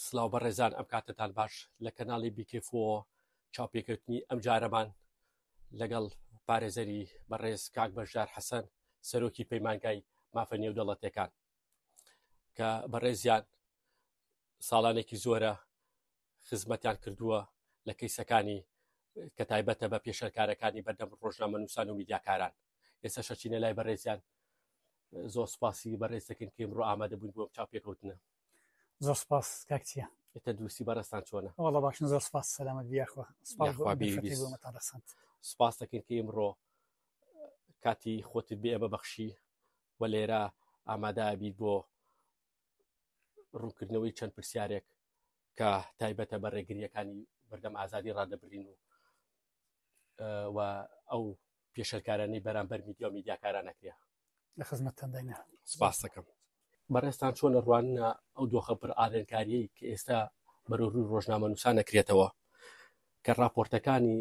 سلاو بەڕێزان ئەم کاتتان باش لە کەناڵی بیکفۆ چاپێکەوتنی ئەم جارەمان لەگەڵ پارێزەری بەڕێز کاک بەشدار حەسەن سەرۆکی پەیمانگای مافە نێودەڵەتەکان کە بەڕێزیان ساڵانێکی زۆرە خزمەتیان کردووە لە کەیسەکانی کە تایبەتە بە پێشەرکارەکانی بەردەم ڕۆژنامە نووسان و میدیاکاران ئێستا شەچینە لای بەڕێزیان زۆر سپاسی بەڕێزەکەن کەم ڕۆ ئامادە بوون بۆ چاو پێکەوتنە زۆر سپاس کاکچیە تەندروستی بەڕستان چۆنە وڵە باش زۆر سپاس سەلامەت بیاخوا سپاس دەکەین کە ئمڕۆ کاتی خۆتت بێ ئەمە بەخشی و لێرە ئامادە بیت بۆ ڕوونکردنەوەی چەند پرسیارێک کە تایبەتە بە ڕێگریەکانی بەردەم ئازادی ڕادەبرین و و ئەو پێشەرکارانی بەرامبەر میدیا و میدیاکارانەکرێ لە خزمەتتانداینە سپاس دەکەم بەڕێستان چۆن ڕوانە ئەو دۆخە پر ئارێنکاریی کە ئێستا بەرەوروی ڕۆژنامە نووسان نەکرێتەوە کە راپۆرتەکانی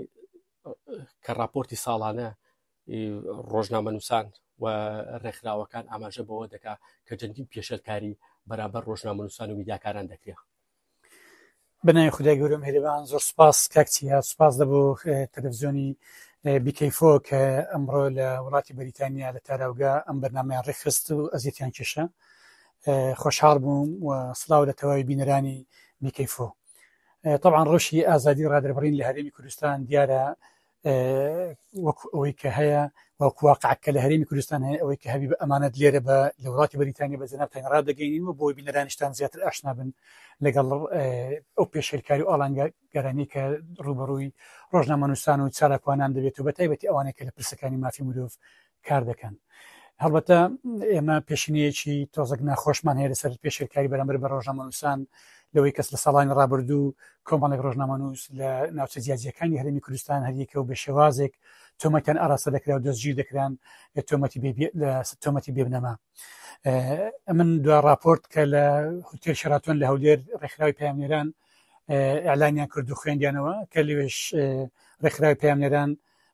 کە راپۆرتی ساڵانە ڕۆژنامەنووسان و ڕێکخراوەکان ئاماژە بەوە دەکا کە جەندین پێشەلکاری بەرامبەر ڕۆژنامەنووسان و میداکاران دەکرێت بنای خدای گەورم هەرێبان زۆر سپاس کاکچی هات سپاس لە بۆ تەلەڤزیۆنی بیکەیفۆ کە ئەمڕۆ لە وڵاتی بەریتانیا لە تاراوگە ئەم بەرنمەیان ڕێخست و ئەزیتیان کێشە خۆشحاڵ بووم و سلااو لە تەواوی بینەرانی بیکەیفۆ طبعاان ڕەوشی ئازادی ڕادربڕین لە هەرێمی کوردستان دیارە وەک ئەوەی کە هەیە وەکوواقعکە لە هەرێمی کوردستان هەیە ئەوەی کە هەبی بە ئەمانەت لێرە بە لە وڵاتی بەریتانیا بە جناب تەنڕا دەگەین و بۆی بینەرانشتان زیاتر ئاشنا بن لەگەڵ ئەو پێشێلکاری و ئالانگە گەرانی کە ڕوبەڕووی ڕۆژنامەنووسان و چالاکوانان دەبێت و بە تایبەتی ئەوانێک کە لە پرسەکانی مافی مرۆڤ کار دەکەن هەڵبەتە ئێمە پێشینەیەکی تۆزەک ناخۆشمان هەیە لەسەر پێشێلکاری بەرامبەر بە ڕۆژنامەنووسان لەوەی کەس لە ساڵانی ڕابردوو کۆمەڵێک ڕۆژنامەنووس لە ناوچە جیاجیەکانی هەرمی کوردستان هەریەکە و بە شێوازێک تۆمەتەن ئاراستە دەکرا و دەستگیر دەکران تۆمەتی تۆمەتی بێبنەما من دو راپۆرت کە لە هوتێل شراتۆن لە هەولێر ڕێکخراوی پامێران ئەلانیان کرد و خوێندیانەوە کە لەوێش ڕێکخراوی پامێران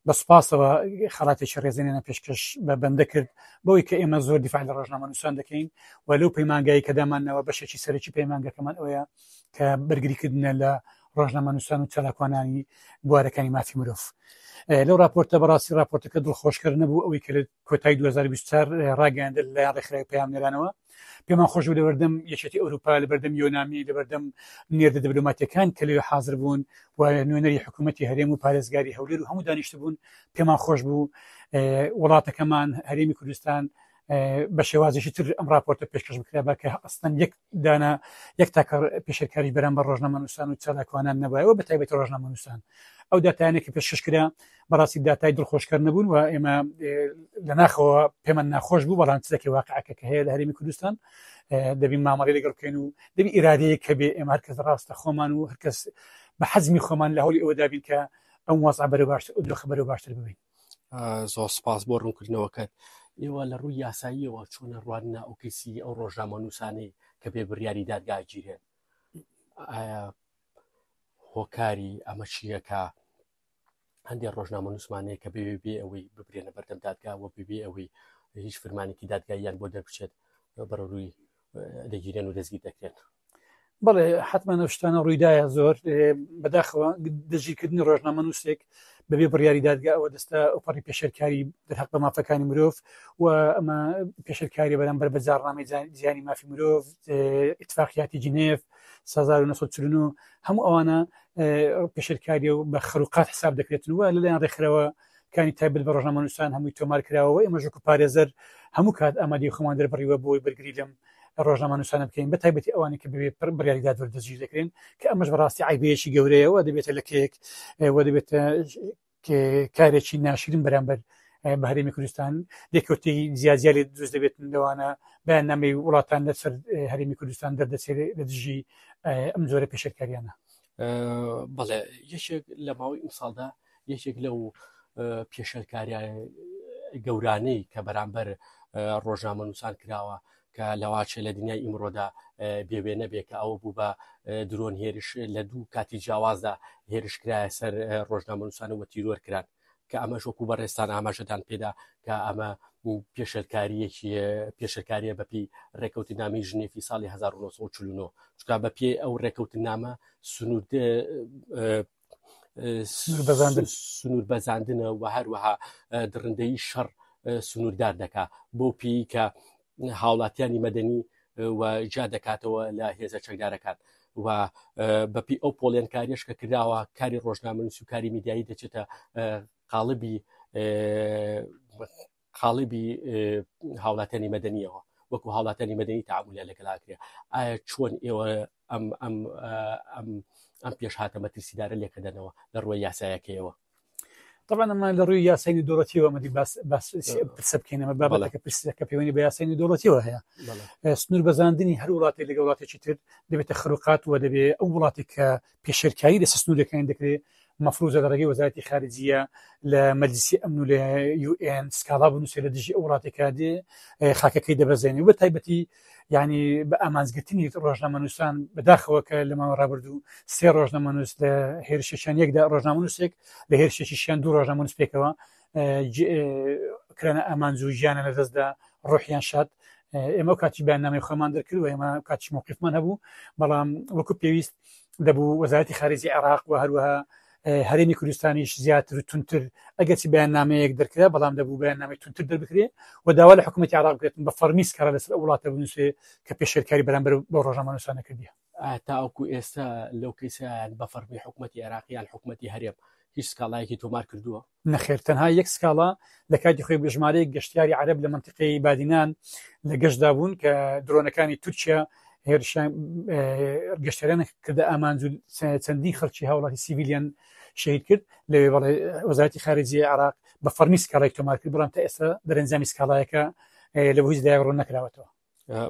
بە سوپاسەوە خەڵاتێکی ڕێزێنێنە پێشکەش بە بەندە کرد بەوەی کە ئێمە زۆر دیفاع لە ڕۆژنامەنووسان دەکەین و لەو پەیمانگایی کە دامانەوە بەشێکی سەرکی پەیمانگەکەمان ئەوەیە کە بەرگریکردنە لە ڕۆژنامەنووسان و چالاکوانانی بوارەکانی مافی مرۆڤ لەو راپۆرتە بەڕاستی راپۆرتەکە دڵخۆشکەر نەبوو ئەوەی کە کۆتای 2024 ڕاگەاندر لە ڕێکخراوی پەیامنێرانەوە پێمان خۆش و لەبەردەم یەکێتی ئەوروپا لەبەردەم یۆنامی لەبەردەم نێردە دبلوماتەکان کە لەوێ حاضر بوون و نوێنەری حکوومەتتی هەرێم و پارێزگاری هەولێر و هەموو دانیشت بوون پێمان خۆش بوو وڵاتەکەمان هەرێمی کوردستان بە شێوازیشی تر ئەم راپۆرتە پێشکەش بکرا بە کە ئەستن یەک دانا یەک تاکە پێشکاری بەرەم بە ڕۆژنامەنووسان و چالاکوانان نەبایەوە بە تایبەت ڕۆژنامەنووسان ئەو داتانێکی پێشکەشکرا بەڕاستی داتای دڵخۆشکەر نەبوون و ئێمە لە ناخەوە پێمان ناخۆش بوو بەڵام چزەکە واقعەکە کە هەیە لە هەرمی کوردستان دەبین مامەڵی لەگەڵ بکەین و دەبی ئیرادەیە کە بێ ئێمە هەرکەس ڕاستە خۆمان و هەرکەس بە حەزمی خۆمان لە هەولی ئەوە دابین کە ئەم وەزع بەرە باشتر و دۆخە بەرە باشتر ببین زۆر سپاس بۆ ڕوونکردنەوەکەت ئێوە لە ڕووی یاساییەوە چۆنە ڕواننا ئەو کەسی ئەو ڕۆژنامە نووسانی کە بێ بڕیاری دادگاگیرێن هۆکاری ئەمە چیەکە هەندێک ڕۆژنامە نووسمانەیە کە بێ بێ ئەوەی ببرێنە بەردەم دادگاوە ببێ ئەوەی هیچ فرمانێکی دادگاییان بۆ دەربچێت بەڕووی دەگیرێن و دەستگیر دەکرێن بەڵێ حتمما ئەو شتانە ڕوویدایە زۆر بەداخەوە دەژیکردنی ڕۆژنامە نووسێک بەبێ بڕیاری دادگا ئەوە دەستە ئۆپەڕی پێشەرکاری دەرحق بە مافەکانی مرۆڤ و ئەمە پێشەرکاری بەرامبەر بە جاڕنامەی زیانی مافی مرۆڤ اتفاقیاتی جنێف و سەزار و نەسە چلن و هەموو ئەوانە پێشرکاری و بە خەروقات حساب دەکرێتن وە لەلایەن ڕێکخرەوە کانی تایبل بە ڕژنامەنووسان هەمووی تۆمار کراوەوە ئێمە ژوک و پارێزەر هەموو کات ئامادی خۆمان دەربڕیوە بۆی بەرگری لەم ڕۆژنامەنووسانە بکەین بە تایبەتی ئەوانی کە بێ پر بڕیاریدا دەردەجی دەکرێن کە ئەمەش بەڕاستی عیبەیەکی گەورەیەوە دەبێتە لە کێک وە دەبێتە کارێکی ناشرین بەرامبەر بە هەرێمی کوردستان دەکەوتی زیازیاری دروست دەبێت لەوانە بەیان نامی وڵاتان لەسەر هەرێمی کوردستان دەردەچێت لە دژی ئەم زۆرە پێشکاریانە بەڵێ یەکێک لە ماوەی ئەم ساڵدا یەکێک لەو پێشەرکاریان گەورانەی کە بەرامبەر ڕۆژنامە نووسان کراوە کە لەواچێ لە دنیای ئیمڕۆدا بێ وێنە بێ کە ئەوە بوو بە درۆن هێرش لە دوو کاتی جیاوازدا هێرشکرایە سەر ڕۆژنامەنووسانە وە تیرۆر کران کە ئەمە شۆکو بەڕێستان ئاماژەدان پێدا کە ئەمە پێشلکاریەکی پێشلکاریە بەپی ڕێکەوت نامی ژنێفی ساڵی 1940 چکا بە پێ ئەو ڕێکەوت نامە سنوود سنوور بەزاندنە و هەروەها دڕندەی شەڕ سنووردار دەکا بۆ پێی کە هاوڵاتیانی مەدەنی و جا دەکاتەوە لە هێزە چەکدارەکان و بەپی ئەو پۆڵێنکاریش کە کراوە کاری ڕۆژنامەنووس و کاری میدیایی دەچێتە قاڵبی قاڵبی هاوڵاتیانی مەدەنیەوە وەکو هاوڵاتیانی مەدەنی تعاملە لەگەلاکرێ ئایا چۆن ئێوە ئەم ئەم ئەم ئەم پێش هاتە مەترسیدارە لێکەدەنەوە لە ڕووە یاسایەکەیەوە طبعا ئەمە لە ڕووی یاسای دۆڵەتیەوە مەدی پرسە بکەینەمە بابەتەکە پرسەکە پەیوەنی بە یاسای دۆڵەتیەوە هەیە سنوور بەزاندنی هەر وڵاتی لەگە وڵاتێکی تر دەبێتە خروقات و دەبێ ئەو وڵاتی کە پێشێلکاری لەسەر سنوورەکانی دەکرێت، مەفروزە لە ڕێگەی وەزارەتی خارجییە لە مەجلیسی ئەمن و لە UN سکاڵا بنووسێت لە دژی ئەو وڵاتێک کە دێ خاکەکەی دەبەزێنێ و بە تایبەتی یعنی بە ئامانجگرتنی ڕۆژنامەنووسان بەداخەوە کە لە ماوە ڕابردوو سێ ڕۆژنامەنووس لە هێرشێکیان یەکدا ڕۆژنامەنووسێک لە هێرشێکیشیان دوو ڕۆژنامەنووس پێکەوە کرانە ئامانج و ژیانە لە دەستدا ڕۆحیان شاد ئێمە کاتی بەیاننامەی خۆمان دەرکرد و ئێمە کاتی موقفمان هەبوو بەڵام وەکو پێویست دەبوو وەزارەتی خارجی عێراق و هەروەها هەرێمی کوردستانیش زیاتر و تونتر ئەگەرچی بەیاننامەیەک دەرکرا بەڵام دەبوو بەیاننامەی تونتر دەربکرێ و داوا لە حکوومەتی عراق بکرێتن بە فەرمیس کار لەسەر وڵاتە بنووسێ کە پێشێلکاری بەرامبەر بۆ ڕۆژنامەنووسانە کردیە تاوکو ئێستا لەو کەیسە بە فەرمی حکوومەتی عێراقیان حکوومەتی هەرێم هیچ سکاڵایەکی تۆمار کردووە نەخێر تەنها یەک سکاڵا لە کاتی خۆی بە ژمارەیەک گەشتیاری عرب لە منتیقی بادینان لە گەشتدا بوون کە درۆنەکانی تورکیا هێرشیان گەشتەران کردە ئامانج و چەندین خەڵکی هاوڵاتی سیویلیان شەید کرد لەوێ بەڵێ وەزارتی خارجی عراق بە فەرمی سکاڵای تۆمار کرد بڵام تا ئێستا دەرەنجامی سکاڵایەکە لە هیچ دای ڕوون نەکراوەتەوە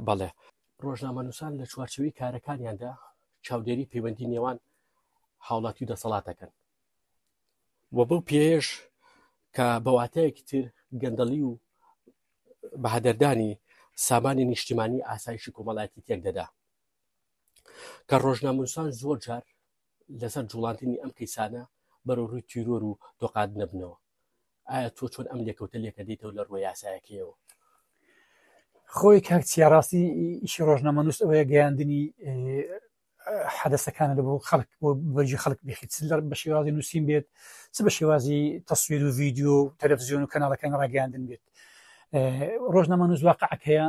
بەڵێ ڕۆژنامەنووسان لە چوارچوی کارەکانیاندا چاودێری پەیوەندی نێوان هاوڵاتی و دەسەڵاتەکەن و بەو پێیەش کە بە واتایەکی تر گەندەڵی و بەهەدەردانی سامانی نیشتیمانی ئاسایشی کۆمەڵایەتی تێک دەدا کە ڕۆژنامونسان زۆر جار لەسەر جوڵاندنی ئەم کەیسانە بەرە ڕووی تیرۆر و دۆقات نەبنەوە ئایا تۆ چۆن ئەم لێکەوتە لێکە دیتەوە لە ڕووە یاسایەکەیەوە خۆی کاکچیا ڕاستی ئیشی ڕۆژنامەنووس ئەوەیە گەیاندنی حەدەسەکانت بۆ خەڵک بۆ بەرجی خەڵک بخیت لەر بە شێوازی نووسین بێت چ بە شێوازی تەسویر و ڤیددیو و تەلەڤزیۆن و کەناڵەکان ڕاگەاندن بێت ڕۆژنامە نوزواقعەت هەیە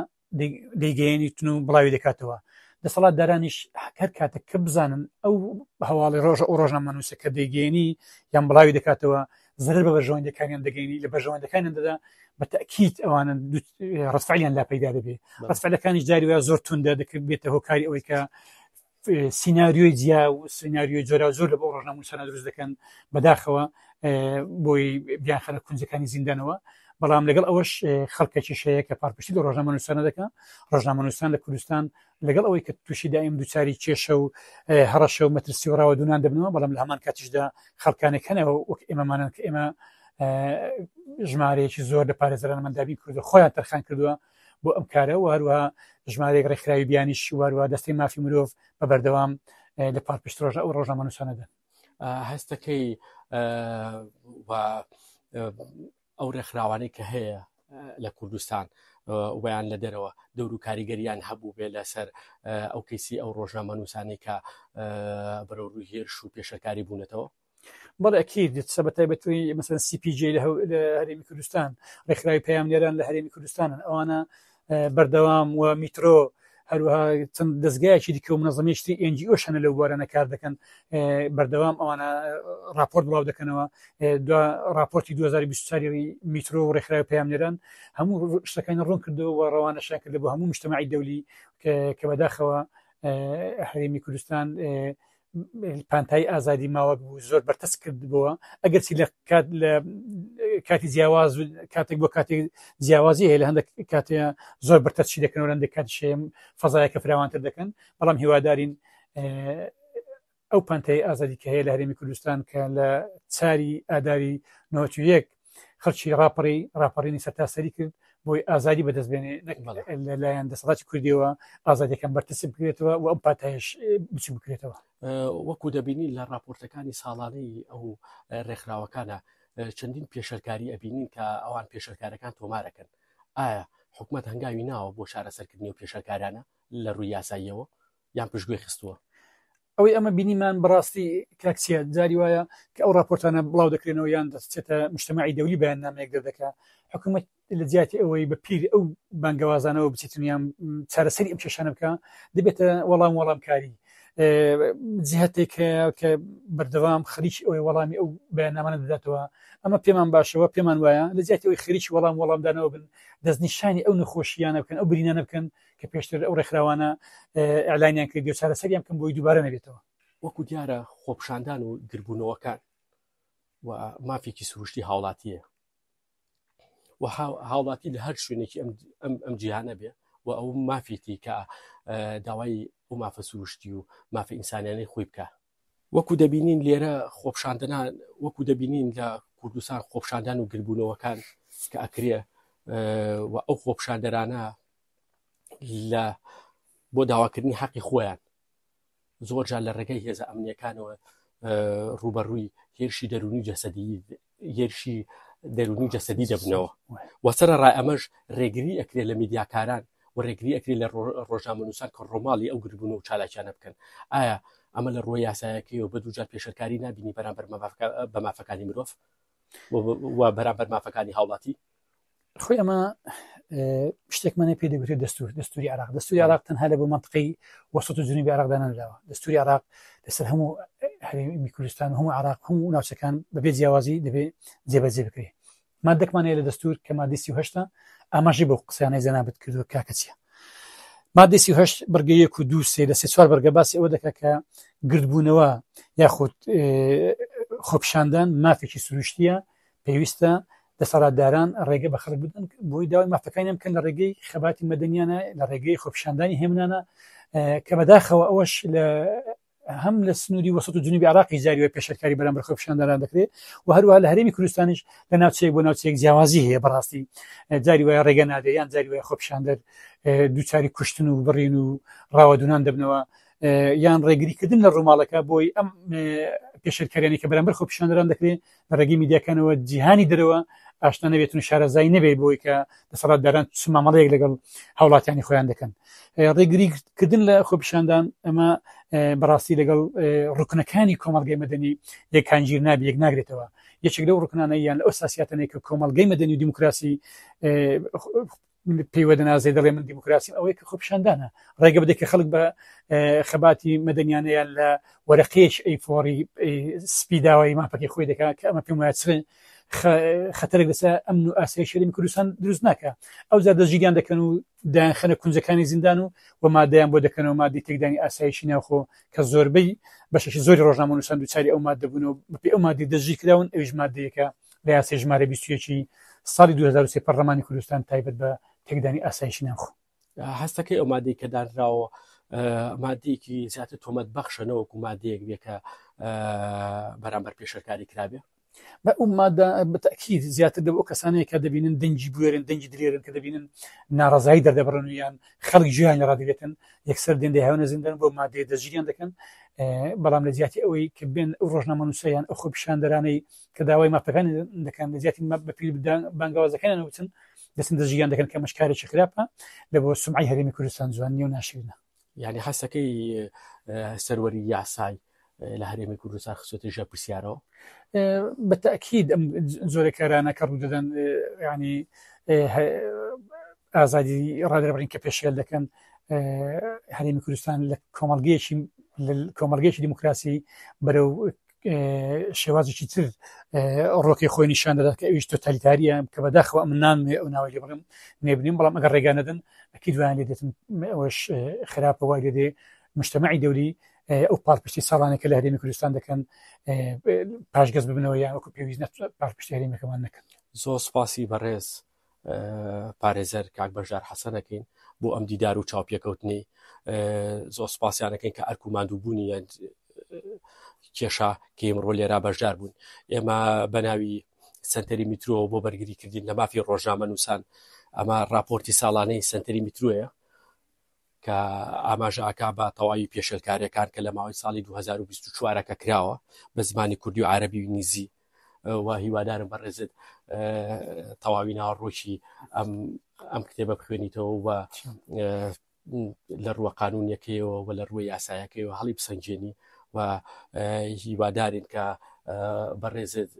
دەیگەێنی تون و بڵاوی دەکاتەوە دەسەڵات دارانیش هەر کاتە کە بزانن ئەو هەواڵی ڕۆژە ئەو ڕۆژنامە نووسەکە دەیگەێنی یان بڵاوی دەکاتەوە زەرەر بە بەرژەوەندەکانیان دەگەینی لە بەرژەوەندەکانیان دەدا بە تاکییت ئەوانە ڕستعیان لا پەیدا دەبێ ڕستعلەکانی جاری وە زۆر توندا دەکرد بێتە هۆکاری ئەوەی کە سینناریۆی جیا و سینناریۆی جۆرا زۆر لە بۆ ڕۆژناموسانە دروست دەکەن بەداخەوە بۆی بیانخەنە کونجەکانی زیندانەوە بەڵام لەگەڵ ئەوەش خەڵکەکی شەیە کە پارپشتی لە ڕۆژنامەنووسانە دەکە ڕۆژنامەنووسان لە کوردستان لەگەڵ ئەوەی کە تووشی دایم دووچاری کێشە و هەڕەشە و مەترسی و ڕاوە دوونان دەبنەوە بەڵام لە هەمان کاتیشدا خەڵکانێک هەنەوە وەک ئێمەمانن کە ئێمە ژمارەیەکی زۆر لە پارێزران مندابی کردو خۆیان تەرخان کردووە بۆ ئەم کارە واروە ژمارەیەک ڕێکخراوی بیانی شیواروە دەستی مافی مرۆڤ بە بەردەوام لە پار پشت ڕۆژە ئەو ڕۆژنامەنووسانەدەن هەستەکەی ئەو ڕێکخراوانەی کە هەیە لە کوردستان ویان لە دەرەوە دەور و کاریگەریان هەبوو بێ لەسەر ئەو کەیسی ئەو ڕۆژنامە نووسانی کە بەرە ڕووی هێرش و پێشەکاری بوونەتەوە بەڵێ ئەکییر دێت سە بە تایبەتوی مەسەن سیPJ لە هەرێمی کوردستان ڕێکخراوی پەیامنێران لە هەرێمی کوردستانن ئەوانە بەردەوام و میترۆ هەروەها چەند دەستگایەکی دیکە و منەزمێشتی ئەنجی ئەو شەنە لەو بوارانە کار دەکەن بەردەوام ئەوانە راپۆرت بڵاو دەکەنەوە دو راپۆرتی 2024 میترۆ و ڕێکخراوی پامنێران هەموو شتەکانی ڕوون کردەوە و ڕەوانەشیان کرد بۆ هەموو نیشتمماعی دەولی کە بەداخەوە هەرێمی کوردستان پانتایی ئازادی ماوەک بوو زۆر بەرتەس کردبووە ئەگەرچی لە کات لە کاتی جیاواز و کاتێک بۆ کاتێک جیاوازی هەیە لە هەندێک کاتێ زۆر بەرتەچی دەکەنەوە لەندێک کات شێم فەزایەکە فراوانتر دەکەن بەڵام هیوادارین ئەو پانتایی ئازادی کە هەیە لە هەرێمی کوردستان کە لە چاری ئاداری نۆچ یەک خەڵکی ڕاپەڕی ڕاپەڕینی سەرتاسەری کرد بۆی ئازادی بەدەست بێنێ لەلایەن دەسەڵاتی کوردیەوە ئازادەکەم بەرتەسی بکرێتەوە و ئەم پاتایش بچ بکرێتەوە وەکو دەبینی لە راپۆرتەکانی ساڵانەی ئەو ڕێکخراوەکانە چەندین پێشەرکاری ئەبینین کە ئەوان پێشەرکارەکان تۆمارەکەن ئایا حکومت هەنگاوی ناوە بۆ شارە سەرکردنی و پێشەکارانە لە ڕووی یاساییەوە یان پشتگوێ خستووە ئەوەی ئەمە بینیمان بەڕاستی کاکسیە جاری وایە کە ئەو راپۆرتانە بڵاو دەکرێنەوە یان دەچێتە مشتمەعی دەولی بەیان نامێک دەردەکە حکوومەت لە جیاتی ئەوەی بە پیر ئەو بانگەوازانەوە بچێتنیان چارەسەری ئەم کێشانە بکە دەبێتە وەڵام وەڵامکاری جهتێک کە بەردەوام خەریکی ئەوەی وەڵامی ئەو بەیاننامانە دەداتەوە ئەمە پێمان باشەوە پێمان وایە لە جیاتی ئەوی خەریکی وەڵام وەڵامدانەوە بن دەستنیشانی ئەو نەخۆشییانە بکەن ئەو برینانە بکەن کە پێشتر ئەو ڕێکخراوانە ئەلانیان کرد و چارەسەریان کەم بۆی دووبارە نەبێتەوە وەکو دیارە خۆپشاندان و گربوونەوەکان و مافێکی سروشتی هاوڵاتیە و هاوڵاتی لە هەر شوێنێکی ئەم جیهانە بێ و ئەو مافێتی کە داوای ئەو مافە سروشتی و مافە ئینسانیانەی خۆی بکە وەکو دەبینین لێرە خۆپشاندنان وەکو دەبینین لە کوردستان خۆپشاندان و گربوونەوەکان کە ئەکرێ و ئەو خۆپشاندەرانە لە بۆ داواکردنی حەقی خۆیان زۆرجار لە ڕێگەی هێزە ئەمنیەکانەوە ڕوبەڕووی هێرشی دەرونی جەسەدی هێرشی دەرونی و جەسەدی دەبنەوە وەسەر ڕای ئەمەش ڕێگری ئەکرێت لە میدیاکاران و ڕێگری ئەکری لە ڕۆژامەنووسان کە ڕۆماڵی ئەو گربوون و چالاکیانە بکەن ئایا ئەمە لە ڕۆی یاسایەکەی و بە دوجار پێشەکاری نبینی بەرامبەر بە مافەکانی مرۆڤ و بەرامبەر مافەکانی هاوڵاتی خۆی ئەمە شتێکمانە پێ دەگوتێت دەستور دەستوری عراق دەستوری عراق تەنها لە بۆ منطقی وەسط و جنوبی عراقدانەداوە دەستوری عراق لەسەر هەموو هەرێمی کوردستان و هەموو عراق هەموو ناوچەکان بەبێ جیاوازی دەبێت جێبەجێ بکرێت مادەکمانەیە لە دەستور کە مادیسی هشتا ئاماژی بۆ قسەیانەی جەنابەت کردو کاکە چیە مادەسی هشت بڕگە یەک و دوو سێ لە سێ چوار بەرگە باسی ئەوە دەکە کە گردبوونەوە یاخود خۆپشاندان مافێکی سروشتیە پێویستە دەسەڵاتداران ڕێگە بە خەڵک بدەن بۆی داوای مافەکانیان بکەن لە ڕێگەی خەباتی مەدەنیانە لە ڕێگەی خۆپیشاندانی هێمنانە کە بەداخەوە ئەوەش لە هەم لە سنووری وەسط و جنوبی عراقی جاریوە پێشەرکاری بەرامبەر خۆپیشاندانان دەکرێت و هەروها لە هەرێمی کوردستانیش لە ناوچەیەک بۆ ناوچەیەک جیاوازی هەیە بەڕاستی جاری وایە ڕێگە نادە یان جاری وایە خۆپیشاندەر دووچاری کوشتن و بڕین و ڕاوەدونان دەبنەوە یان ڕێگریکردن لە ڕووماڵەکە بۆی ئەم پێشرکاریانی کە بەرامبەر خۆپیشاندران دەکرێت لە ڕێگەی میدیاکانەوە جیهانی دەرەوە ئاشنا نەبێتون شارەزای نەبێت بۆی کە دەسەڵاتداران چ مامەڵەیەک لەگەڵ هاوڵاتیانی خۆیان دەکەن ڕێگریکردن لە خۆپیشاندان ئەمە بەڕاستی لەگەڵ ڕکنەکانی کۆمەلگەی مەدەنی یەکانگیر نابی یەک ناگرێتەوە یەکێک لەو ڕکنانە یان ئەو ساسیاتەنێک کە کۆمەلگەی مەدەنی و دیموکراسی پێی وەدەنازێ دەڵێ من دیموکراسیم ئەوەی کە خۆپشاندانە ڕێگە بدە کە خەڵک بە خەباتی مەدەنیانەیان لە وەرەقێش ئەی فۆری سپیداوای ماپەکەی خۆی دەکات کە ئەمە پێم وایە خەتەرێک لەسە ئەم و ئاسای شەرمی کوردستان دروست ناکە ئەو زار دەژیریان دەکەن و دایان خەنە کونجەکانی زیندان و و مادەیان بۆ دەکەنەوە مادی تێکدانی ئاسایشی ناوخۆ کە زۆربەی بەشێکی زۆری ڕۆژنامە نووسان دوچاری ئەو مادە بوون و بەپی ئەو مادی دەژی کراون ئەوش مادەیەکە بە یاسای ژمارە 21 ی ساڵی 2023 پەرلەمانی کوردستان تایبەت بە تێکدانی ئاسایشی ناوخۆ هەستەکەی ئەو مادەی کە دانراوە مادەیەکی زیاتر تۆمەت بەخشە نەوەکو مادەیەک بێ کە بەرامبەر پێشەکاری کرابێ بە ئەو مادە بەتەکی زیاتر دەبۆ کەسانەیە کە دەبینن دەنگی بوێرن دەنگی درێرن کە دەبینن ناڕزایی دەردەبڕن یان خەڵک ژیان لە ڕادگرێتن یەکسەر دێن دەهێونە زیندن بۆ مادەیە دەژیان دەکەن بەڵام لە زیاتی ئەوەی کە بێن ئەو ڕۆژنامە نووسیان ئەو خۆ پیشاندەرانەی کە داوای مافەکانی دەکەن لە جیاتی بە پێی بانگاوازەکانیان وتن دەستن دەژیان دەکەن کە مەشکارێکی خراپە لە بۆ سمعی هەرێمی کوردستان جوان نیە و ناشرینە یعنی حەسەکەی سەروەری یاسای لە هەرێمی کوردستان خسۆتی ژە پرسیارەوە بە تاکیید ئەم زۆرە کارانە کە ڕوو دەدەن ینی ئازادی ڕادربڕین کە پێشێل دەکەن هەرێمی کوردستان لە کۆمەلگەیەکی کۆمەلگەیەکی دیموکراسی بەرەو شێوازێکی تر ڕۆکی خۆی نیشان دەدات کە ئەویش تۆتالیتاریە کە بەداخەوە من نامێ ئەو ناوی لێ بڵم نێبنیم بەڵام ئەگەر ڕێگا نەدەن ئەکی دوایان لێ دێتن ئەوش خراپە وای لێ مشتمەعی دەولی ئەو پاڵپشتی ساڵانە کە لە هەرێمی کوردستان دەکەن پاشگەز ببنەوە یان وەکو پێویست پاڵپشتێریمەکەمان نەکەن زۆر سپاسی بەڕێز پارێزەر کاک بەژار حەسەن ئەکەین بۆ ئەم دیدار و چاوپێکەوتنی زۆر سپاسیانەکەین کە ئەرک و مادووبوونی کێشا کە ئمڕۆ لێرا بەشدار بوون ئێمە بەناوی سنتەری میترۆەوە بۆ بەرگری کردین لە مافی ڕۆژنامە نووسان ئەمە راپۆرتی ساڵانەی سنتەری میتروۆیە کە ئاماژاکە بە تەواوی پێشلکارەکان کە لە ماوەی ساڵی 2024ەکە کراوە بە زمانی کوردی و عربی و نیزی و هیوادارم بەڕێزت تەواوی ناوەڕۆکی ئەم ئەم کتێبە بخوێنیتەوە و لە ڕووە قانونیەکەیەوە و لە ڕووی یاسایەکەیەوە هەڵی بسەنجێنی و هیوادارین کە بەڕێزت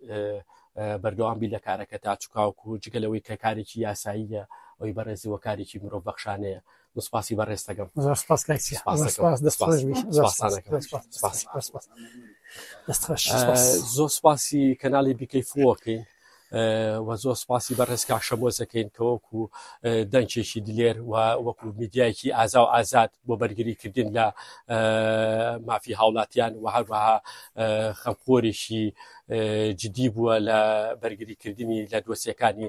بەردەوامبی لە کارەکە تا چکاوکو جگەلەوەی کە کارێکی یاساییە ئەوی بەڕێزی وەکارێکی مرۆڤ بەخشانەیە سپاسی بە ڕێستەکەم زۆر سپاسی کەناڵی بیکەی فۆکەین و زۆر سپاسی بە ڕێزکا شەمۆزەکەین کە وەکو دەنگێکی دلێر و وەکو میدیایکی ئازا و ئازاد بۆ بەرگریکردن لە مافی هاوڵاتیان و هەروەها خەمخۆریشی جدی بووە لە بەرگریکردنی لە دۆسیەکانی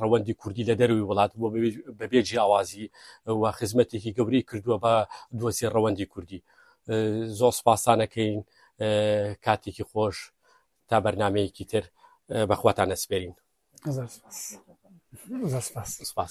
ڕەوەندی کوردی لە دەروی وڵات بۆ بەبێ جیاوازی و خزمەتێکی گەورەی کردووە بە دۆسی ڕەوەندی کوردی زۆر سپاسانەکەین کاتێکی خۆش تا بەرنمەیەکی تر بەخواتان نەسپێرین سپاس